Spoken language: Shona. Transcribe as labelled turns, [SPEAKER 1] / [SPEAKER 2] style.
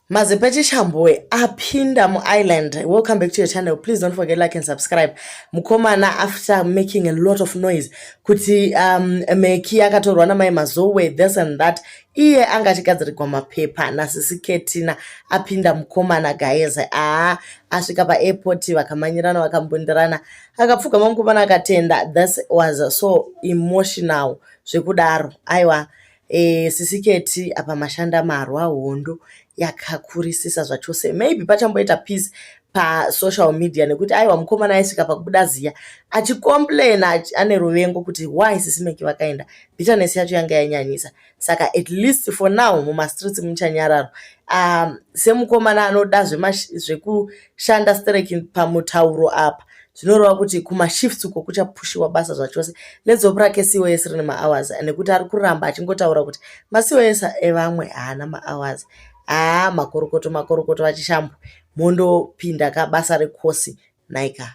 [SPEAKER 1] Mazepeche Chambue apinda mu island. Welcome back to your channel. Please don't forget like and subscribe. Mukomana after making a lot of noise kuti um, meki akatorwa namai Mazowe this and that. Iye anga achigadzirigwa mapepa nasisi Ketina apinda mukomana guys. Ah, asvika pa airport vakamanyirana vakambundirana. Akapfugama mukomana akatenda. This was so emotional zvekudaro. Aiwa. E, sisi keti apa mashanda marwa hondo yakakurisisa zvachose maybe pachamboita peace pasocial media nekuti aiwa mukomana aisvika pakubuda ziya achicomplaina ane ruvengo kuti why sisi meki vakaenda bitterness yacho yanga yanyanyisa saka at least for now mumastreets muchanyararo um, semukomana anoda zvekuti shanda stereki pamutauro apa zvinoreva kuti kumashifts uko kuchapushiwa basa zvachose nedzopo rake cos rine mahours nekuti ari kuramba achingotaura kuti macos evamwe haana mahours haa ah, makorokoto makorokoto vachishambwa mondopinda ka basa rekosi naika